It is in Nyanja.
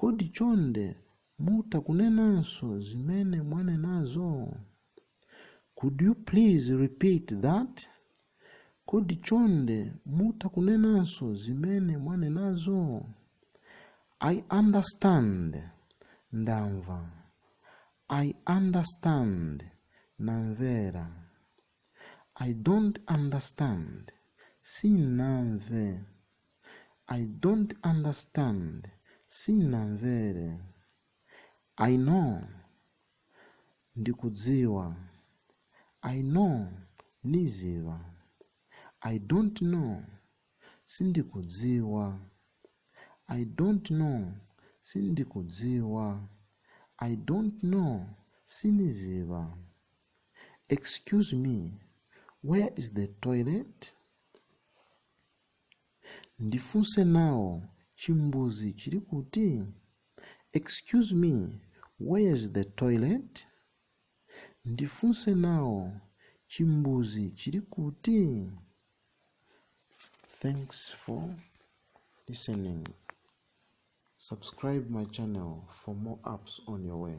Kodi chonde mutha kunenanso zimene mwanenazo? Could you please repeat that? Kodi chonde mutha kunenanso zimene mwanenazo? I understand. Ndamva. I understand. Namvera. I don't understand. Sinamve. I don't understand. Sinamvere. I know. Ndikudziwa. I know. Niziva. I don't know. Sindikudziwa. I don't know. Sindikudziwa. I don't know. Siniziva. Excuse me, where is the toilet? Ndifunse nawo chimbuzi chili kuti? Excuse me, where is the toilet? Ndifunse nawo chimbuzi chili kuti? Thanks for listening. Subscribe my channel for more apps on your way.